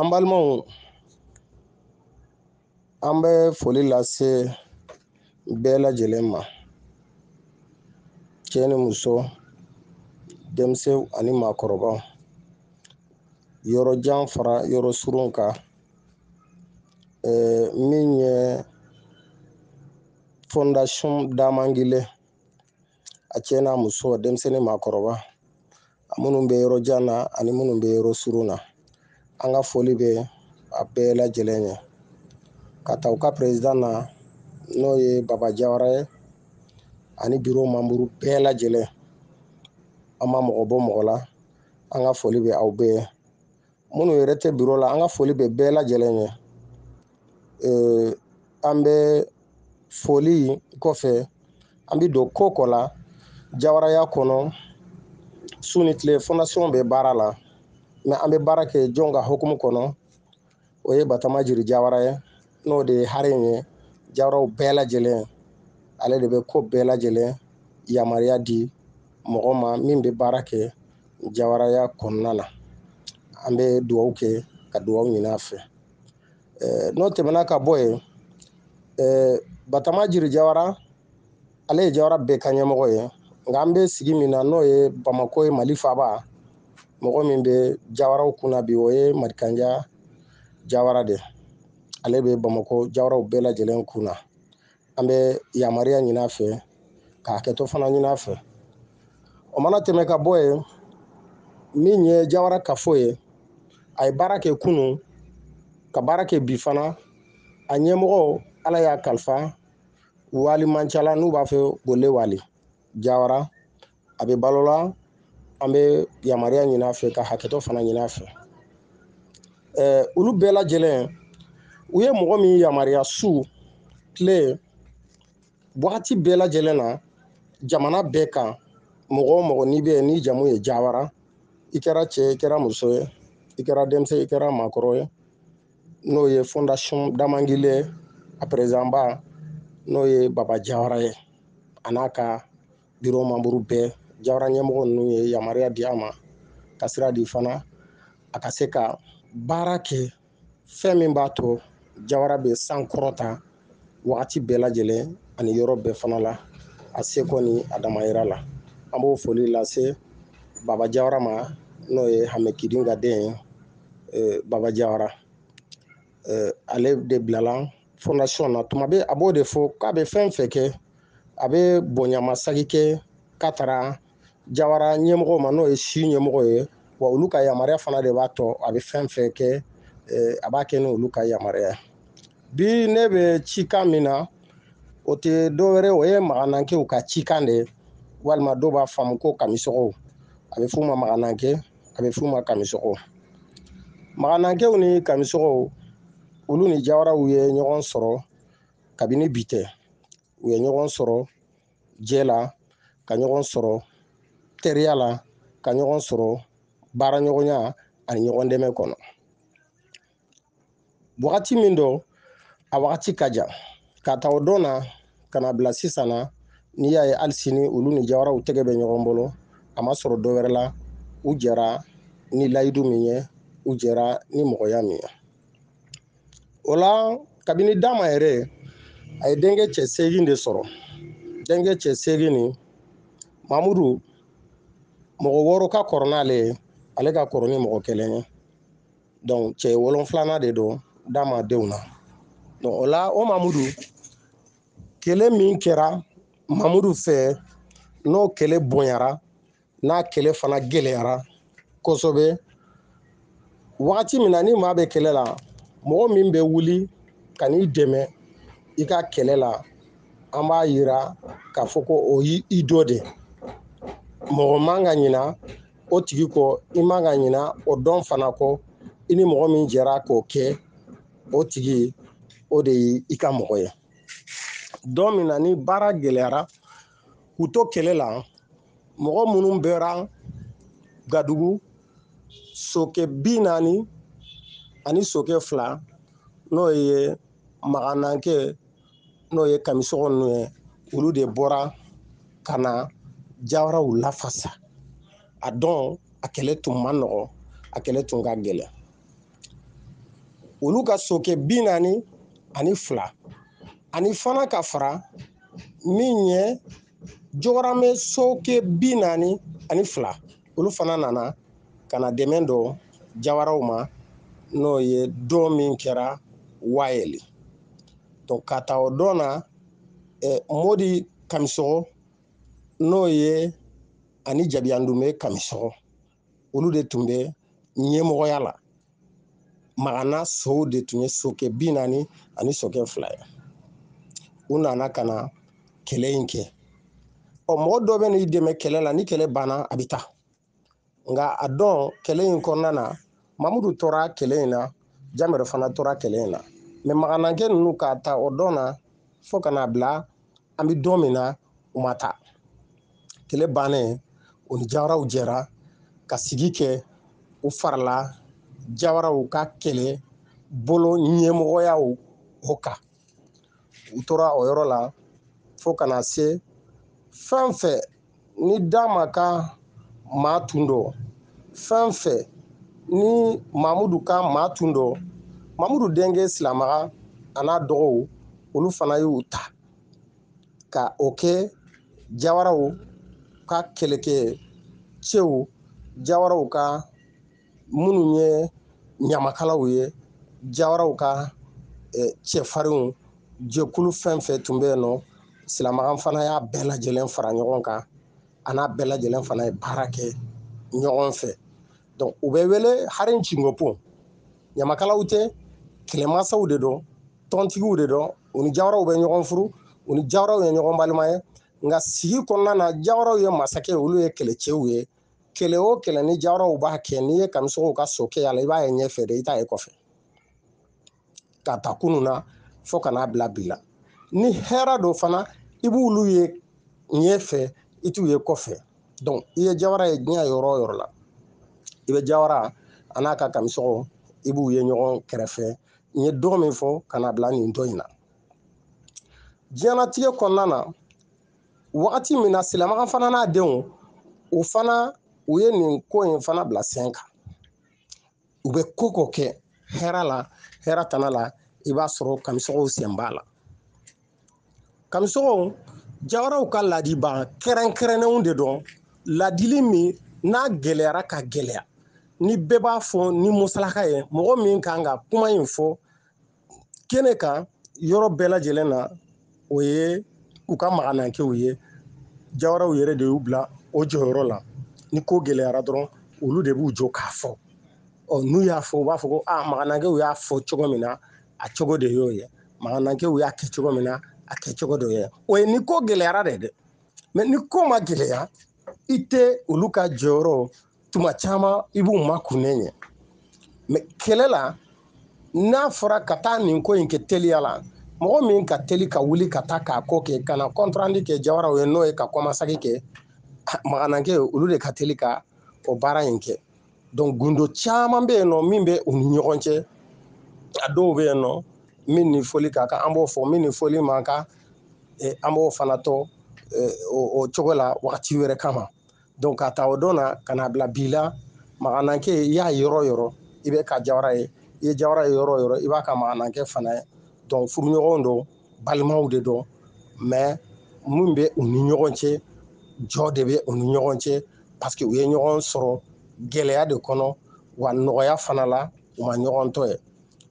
an balimaw an bɛ foli lase bɛɛ lajɛlen ma cɛ ni muso denmisɛnw ani maakɔrɔbaw yɔrɔ jan fara yɔrɔ surun kan min ye fondation damangile a cɛ n'a muso denmisɛn ni maakɔrɔba a minnu bɛ yɔrɔ jan na ani minnu bɛ yɔrɔ surun na an ka foli bɛ a bɛɛ lajɛlen ye k'a ta u ka perezidan na n'o ye baba jawara ye ani biro manburu bɛɛ lajɛlen an ma mɔgɔ bɔ mɔgɔ la an ka foli bɛ aw bɛɛ ye minnu yɛrɛ tɛ biro la an ka foli bɛ bɛɛ lajɛlen ye an bɛ foli kɔfɛ an bɛ don ko kɔ la jawaraya kɔnɔ su ni tile fondasiɔn bɛ baara la mais an bɛ baara kɛ jɔn ka hukumu kɔnɔ o ye batama jiri jawara ye n'o de ye hare in ye jawaraw bɛɛ lajɛlen ale de bɛ ko bɛɛ lajɛlen yamaruya di mɔgɔ ma min bɛ baara kɛ jawaraya kɔnɔna na an bɛ dugawu kɛ ka dugawu ɲini a fɛ n'o tɛmɛna ka bɔ yen batama jiri jawara ale ye jawara bɛɛ ka ɲɛmɔgɔ ye nka an bɛ sigi min na n'o ye bamako ye mali faba mɔgɔ min bɛ jawaraw kunna bi o ye madikanja jawara de ale bɛ bamako jawaraw bɛɛ lajɛlen kun na an bɛ yamaruya ɲini a fɛ ka hakɛto fana ɲini a fɛ o mana tɛmɛ ka bɔ yen min ye jawara kafo ye a ye baara kɛ kunun ka baara kɛ bi fana a ɲɛmɔgɔ ala y'a kalifa wali mancala n'u b'a fɛ gole wali jawara a bɛ balo la an bɛ yamaruya ɲini a fɛ ka hakɛto fana ɲini a fɛ olu bɛɛ lajɛlen u ye mɔgɔ min yamaruya su tile wagati bɛɛ lajɛlen na jamana bɛɛ kan mɔgɔ o mɔgɔ n'i bɛ yen ni jamu ye jawara i kɛra cɛ ye i kɛra muso ye i kɛra denmisɛn i kɛra maakɔrɔ ye n'o ye fondation damangile a perezidanba n'o ye baba jawara ye a n'a ka biro manburu bɛɛ jawara ɲɛmɔgɔ ninnu ye yamaruya di a ma ka sira di fana a ka se ka baara kɛ fɛn min b'a to jawara bɛ sankɔrɔta wagati bɛɛ lajɛlen ani yɔrɔ bɛɛ fana la a seko ni a damayira la an b'o foli lase baba jawara ma n'o ye hame kidin ka den ye eh, baba jawara eh, ale de bilala fondation na tuma bɛ a b'o de fɔ k'a bɛ fɛn fɛn kɛ a bɛ bonyamasagi kɛ k'a taara jawara ɲɛmɔgɔ ma n'o ye si ɲɛmɔgɔ ye wa olu ka yamaruya fana de b'a to a bɛ fɛn fɛn kɛ a b'a kɛ ni olu ka yamaruya bi ne bɛ cikan min na o tɛ dɔwɛrɛ o ye maganankew ka cikan de ye walima dɔw b'a faamu ko kamisɔgɔw a bɛ f'u ma magananke a bɛ f'u ma kamisɔgɔw maganankew ni kamisɔgɔw olu ni jawaraw ye ɲɔgɔn sɔrɔ kabini bi tɛ u ye ɲɔgɔn sɔrɔ jɛ la ka ɲɔgɔn sɔrɔ teriya la ka ɲɔgɔn sɔrɔ baaraɲɔgɔnya ani ɲɔgɔn dɛmɛ kɔnɔ wagati min don a wagati ka jan k'a ta o don na ka n'a bila sisan na n'i y'a ye hali sini olu ni jawaraw tɛgɛ bɛ ɲɔgɔn bolo a ma sɔrɔ dɔ wɛrɛ la u jɛra ni layidu min ye u jɛra ni mɔgɔya min ye o la kabini dama yɛrɛ a ye denkɛ cɛ seegin de sɔrɔ denkɛ cɛ seegin nin mamudu mɔgɔ wɔɔrɔ ka kɔrɔ n'ale ye ale ka kɔrɔ ni mɔgɔ kelen ye donc cɛ wolonfilana de don dama denw na donc o la o mamudu kɛlɛ min kɛra mamudu fɛ n'o kɛlɛ bonyara n'a kɛlɛ fana gɛlɛyara kosɛbɛ wagati min na ni maa bɛ kɛlɛ la mɔgɔ min bɛ wuli ka n'i dɛmɛ i ka kɛlɛ la an b'a yira k'a fɔ ko o y'i dɔ de mɔgɔ man ka ɲina o tigi kɔ i man ka ɲina o don fana kɔ i ni mɔgɔ min jɛra k'o kɛ o tigi o de ye i ka mɔgɔ ye don min na ni baara gɛlɛyara k'u to kɛlɛ la mɔgɔ minnu bɔra gadugu sokɛ bi naani ani sokɛ fila n'o ye maganankɛ n'o ye kamisɔgɔ ninnu ye olu de bɔra ka na jawaraw lafasa a don a kɛlɛ tun ma nɔgɔ a kɛlɛ tun ka gɛlɛn olu ka sokɛ bi naani ani fila ani fana ka fara min ye jɔgɔrɔmɛ sokɛ bi naani ani fila olu fana nana ka na dɛmɛ don jawaraw ma n'o ye don min kɛra wayɛli don k'a ta o don na modi kamisɔgɔ n'o ye ani jabiyandume kamisɔgɔ olu de tun bɛ ɲɛmɔgɔya la magana sow de tun ye sokɛ bi naani ani sokɛ fila ye u nana ka na kɛlɛ in kɛ ɔ mɔgɔ dɔ bɛ n'i dɛmɛ kɛlɛ la ni kɛlɛ banna a bɛ taa nka a don kɛlɛ in kɔnɔna na mamudu tora kɛlɛ in na jamɛrɛ fana tora kɛlɛ in na mais maganankɛ ninnu k'a ta o don na fo ka n'a bila an bɛ don min na u ma taa kɛlɛ bannen u ni jawaraw jɛra ka sigi kɛ u farala jawaraw ka kɛlɛ bolo ɲɛmɔgɔyaw o kan u tora o yɔrɔ la fo ka na se fɛn fɛn ni dama ka maa tun don fɛn fɛn ni mamudu ka maa tun don mamudu denkɛ silamaga a n'a dɔgɔw olu fana y'u ta ka o kɛ jawaraw ka kɛlɛkɛ cɛw jawaraw ka minnu ye ɲamakalaw ye jawaraw ka cɛfarinw jɛkulu fɛn fɛn tun bɛ yen nɔ silamakan fana y'a bɛɛ lajɛlen fara ɲɔgɔn kan a n'a bɛɛ lajɛlen fana ye baara kɛ ɲɔgɔn fɛ donc u bɛ wele hari cingopo ɲamakalaw tɛ kɛlɛmasaw de don tɔntigiw de don u ni jawaraw bɛ ɲɔgɔn furu u ni jawaraw ye ɲɔgɔn balima ye nka sigi kɔnɔna na jawaraw ye masakɛ olu ye kɛlɛcɛw ye kɛlɛ o kɛlɛ ni jawaraw b'a kɛ n'i ye kamisɔgɔw ka sokɛ y'a la i b'a ye ɲɛfɛ de i t'a ye kɔfɛ ka ta kunu na fo ka n'a bila bi la ni hɛrɛ don fana i b'olu ye ɲɛfɛ i t'u ye kɔfɛ donc i ye jawara ye diɲɛ yɔrɔ o yɔrɔ la i bɛ jawara a n'a ka kamisɔgɔw i b'u ye ɲɔgɔn kɛrɛfɛ n ye don min fɔ ka n'a bila nin don in na diɲɛnatigɛ kɔnɔna na wagati min na silamakan fana n'a denw u fana u ye nin ko in fana bila sen kan u bɛ ko ko kɛ hɛrɛ la hɛrɛ tana la i b'a sɔrɔ kamisɔgɔw sen b'a la kamisɔgɔw jawaraw ka laadibaa kɛrɛnkɛrɛnnenw de don ladili min n'a gɛlɛyara ka gɛlɛya ni bɛɛ b'a fɔ ni musalaka ye mɔgɔ min kan ka kuma in fɔ kɛnɛ kan yɔrɔ bɛɛ lajɛlen na o ye u ka maganankew ye jawaraw yɛrɛ de y'u bila o jɔyɔrɔ la ni ko gɛlɛyara dɔrɔn olu de b'u jɔ k'a fɔ ɔ n'u y'a fɔ u b'a fɔ ko a maganankew y'a fɔ cogo min na a cogo de y'o ye maganankew y'a kɛ cogo min na a kɛ cogo de ye o ye ni ko gɛlɛyara de dɛ mɛ ni ko ma gɛlɛya i tɛ olu ka jɔyɔrɔ tuma caman i b'u makunnen ye mɛ kɛlɛ la n'a fɔra ka taa nin ko in kɛ teliya la mɔgɔ min ka teli ka wuli ka taa k'a ko kɛ ka na kɔntrandi kɛ jawaraw ye n'o ye ka kɔmasegi kɛ maganankɛ ye olu de ka teli ka o baara in kɛ donc gundo caman bɛ yen nɔ min bɛ u ni ɲɔgɔn cɛ a dɔw bɛ yen nɔ min ni fɔli ka kan an b'o fɔ min ni fɔli man kan an b'o fana to o cogo la wagati wɛrɛ kama donc k'a ta o don na ka na bila bi la maganankɛ i y'a yɔrɔ yɔrɔ i bɛ ka jawara ye i ye jawara ye yɔrɔ yɔrɔ i b'a ka maganankɛ fana ye donc furuɲɔgɔn don balimaw de don mɛ min bɛ u ni ɲɔgɔn cɛ jo de bɛ u ni ɲɔgɔn cɛ parce que u ye ɲɔgɔn sɔrɔ gɛlɛya de kɔnɔ wa nɔgɔya fana la u ma ɲɔgɔn to yen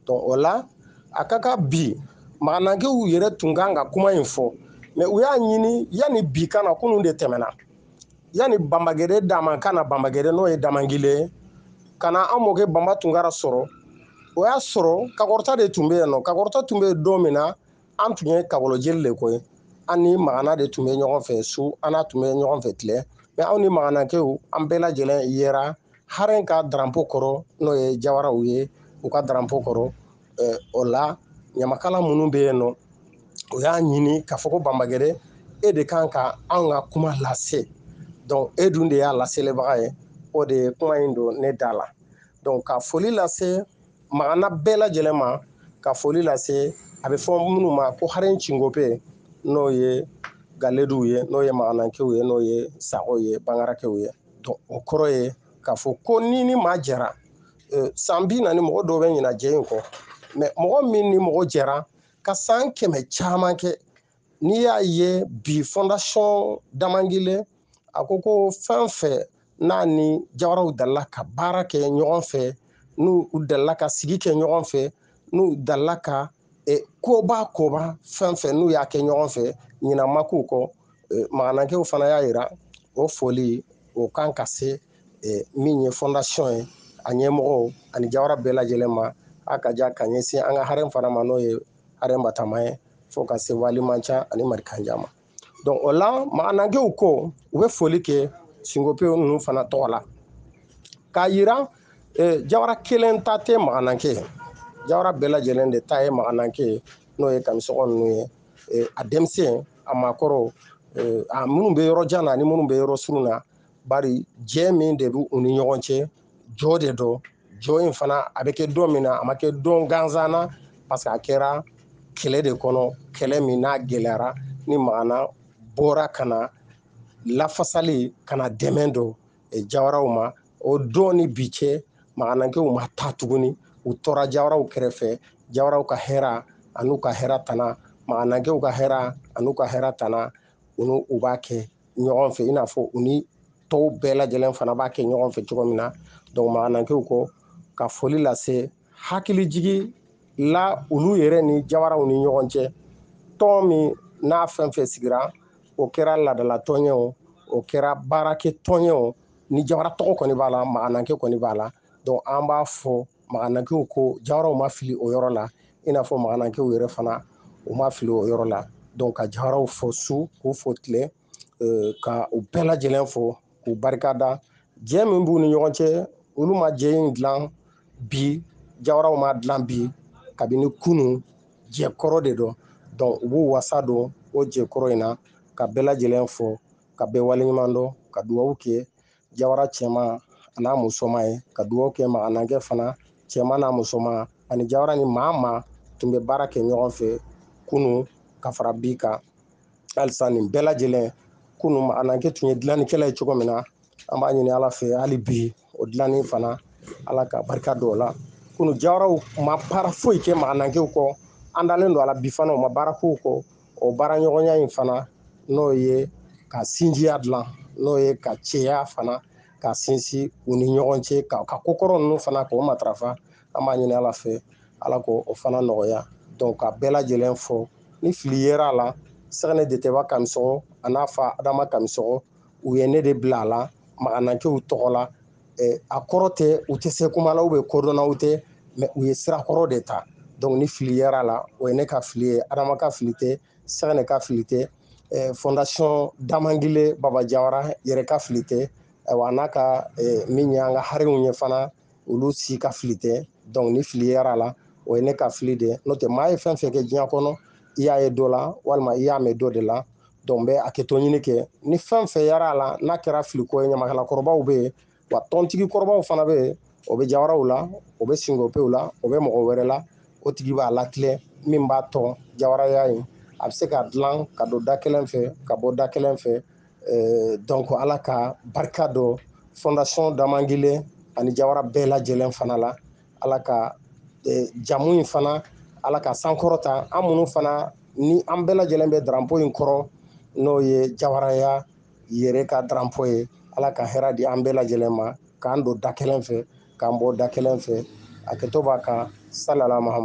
donc o la a ka kan bi maganankew yɛrɛ tun kan ka kuma in fɔ mɛ u y'a ɲini yanni bi ka na kunun de tɛmɛna yanni banbagɛdɛ daman ka na banbagɛdɛ n'o ye damangile ye ka na an mɔkɛ banba tunkara sɔrɔ o y'a sɔrɔ kakɔrɔta de tun bɛ yen nɔ kakɔrɔta tun bɛ yen don min na an tun ye kakolojeli de ko ye an ni magana de tun bɛ ɲɔgɔn fɛ su an n'a tun bɛ ɲɔgɔn fɛ tile mɛ anw ni maganakew an bɛɛ lajɛlen yera haren ka daranpo kɔrɔ n'o ye jawaraw ye u ka daranpo kɔrɔ o la ɲamakala minnu bɛ yen nɔ u y'a ɲini k'a fɔ ko banbagɛdɛ e de kan ka anw ka kuma lase donc e dun de y'a laselebaga ye o de ye kuma in don ne da la donc ka foli lase magana bɛɛ lajɛlen ma ka foli lase a bɛ fɔ minnu ma ko haren cinkope n'o ye galeduw ye n'o ye maganankew ye n'o ye sago ye bangarakew ye donc o kɔrɔ ye k'a fɔ ko n'i ni maa jɛra e, san bi naani mɔgɔ dɔw bɛ ɲina jɛ in kɔ mɛ mɔgɔ min ni mɔgɔ jɛra ka san kɛmɛ caman kɛ n'i y'a ye bi fondation damangile a ko ko fɛn fɛn n'a ni jawaraw dalila ka baara kɛ ɲɔgɔn fɛ n'u u dalila ka sigi kɛ ɲɔgɔn fɛ n'u dalila ka e, koba koba fɛn fɛn n'u y'a kɛ ɲɔgɔn fɛ ɲina ma k'u kɔ e, maganakɛw fana y'a yira o foli o kan ka se e, min ye fondation ye a ɲɛmɔgɔw ani jawara bɛɛ lajɛlen ma a ka ja ka ɲɛsin an ka haren fana ma n'o ye haren batama ye fo ka se waliman ca ani marikanjan ma donc o la maganankew ko u bɛ foli kɛ sinkopew ninnu fana tɔgɔ la k'a yira eh, jawara kelen ta tɛ magananke ye jawara bɛɛ lajɛlen de ta ye magananke ye n'o ye kamisɔgɔ ninnu ye eh, a denmisɛn a maakɔrɔw eh, a minnu bɛ yɔrɔ jan na ani minnu bɛ yɔrɔ surun na bari jɛ min de bɛ u ni ɲɔgɔn cɛ jo de don jo in fana a bɛ kɛ don min na a ma kɛ don gansan na parce que a kɛra kɛlɛ de kɔnɔ kɛlɛ min n'a gɛlɛyara ni magana bɔra ka na lafasali ka na dɛmɛ don eh, jawaraw ma o don ni bi cɛ maganankɛw ma taa tuguni u tɔra jawaraw kɛrɛfɛ jawaraw ka hɛra an'u ka hɛra tana maganakɛw ka hɛra an'u ka hɛra tana olu u b'a kɛ ɲɔgɔn fɛ i n'a fɔ u ni tɔw bɛɛ lajɛlen fana b'a kɛ ɲɔgɔn fɛ cogo min na donc maganankew ko ka foli lase hakilijigi la olu yɛrɛ ni jawaraw ni ɲɔgɔn cɛ tɔn min n'a fɛn fɛn sigira o kɛra ladala tɔn ye o o kɛra baarakɛ tɔn ye o ni jawara tɔgɔ kɔni b'a la magananke kɔni b'a la donc an b'a fɔ maganankew ko jawaraw ma fili o yɔrɔ la i n'a fɔ maganankew yɛrɛ fana u ma fili o yɔrɔ la donc ka jawaraw fo su k'u fo tile euh, ka u bɛɛ lajɛlen fo k'u barika da jɛ min b'u ni ɲɔgɔn cɛ olu ma jɛ in dilan bi jawaraw ma dilan bi kabini kunu jɛ kɔrɔ de don donc u b'u wasa don o jɛ kɔrɔ in na ka bɛɛ lajɛlen fo ka bɛɛ waleɲuman dɔn ka duwawu kɛ jawara cɛman an'a musoma ye ka dugaw kɛ maganankɛ fana cɛman n'a musoma ani jawara ni maa maa tun bɛ baara kɛ ɲɔgɔn fɛ kunu ka fara bi kan halisa nin bɛɛ lajɛlen kunu maganankɛ tun ye dilannikɛla ye cogo min na an b'a ɲini ala fɛ hali bi o dilanni fana ala ka barika don o la kunu jawaraw ma baara foyi kɛ maganankɛw kɔ an dalen don ala bi fana u ma baara k'u kɔ o baaraɲɔgɔnya in fana n'o ye ka sinjiya dilan n'o ye ka cɛya fana ka sinsin u ni ɲɔgɔn cɛ ka ka kokɔrɔ ninnu fana k'o matarafa an b'a ɲini ala fɛ ala k'o fana nɔgɔya donc ka bɛɛ lajɛlen fo ni fili yera a la sɛgɛnɛ detɛba kamisɔgɔ an'a fa adama kamisɔgɔ u ye ne de bila a la maganankew tɔgɔ la a kɔrɔ tɛ u tɛ se kuma la ou bien kodɔnnaw tɛ mais u ye sira kɔrɔ de ta donc ni fili yera a la o ye ne ka fili ye adama ka fili tɛ sɛgɛnɛ ka fili tɛ fondation damangile baba jawara yɛrɛ ka fili tɛ wa n'a ka min ye an ka harimu ye fana olu si ka fili tɛ donc ni fili yera a la o ye ne ka fili de n'o tɛ maa ye fɛn fɛn kɛ diɲɛ kɔnɔ i y'a ye dɔ la walima i y'a mɛn dɔ de la donc n bɛ hakɛto ɲini kɛ ni fɛn fɛn yera a la n'a kɛra filiko ye ɲamakala kɔrɔbaw bɛ yen wa tɔntigi kɔrɔbaw fana bɛ yen o bɛ jawaraw la o bɛ sinkopew la o bɛ mɔgɔ wɛrɛ la o tigi b'a latilɛ min b'a to jawaraya ye a bɛ se ka dilan ka don da kelen fɛ ka bɔ da kelen fɛ eh, donc ala ka barika don fondation damangile ani jawara bɛɛ lajɛlen fana la ala ka e, jamu in fana ala k'a sankɔrɔta an minnu fana ni an bɛɛ lajɛlen bɛ daranpo in kɔrɔ n'o ye jawaraya yɛrɛ ka daranpo ye ala ka hɛrɛ di an bɛɛ lajɛlen ma k'an don da kelen fɛ k'an bɔ da kelen fɛ hakɛto b'a kan salala mahamadu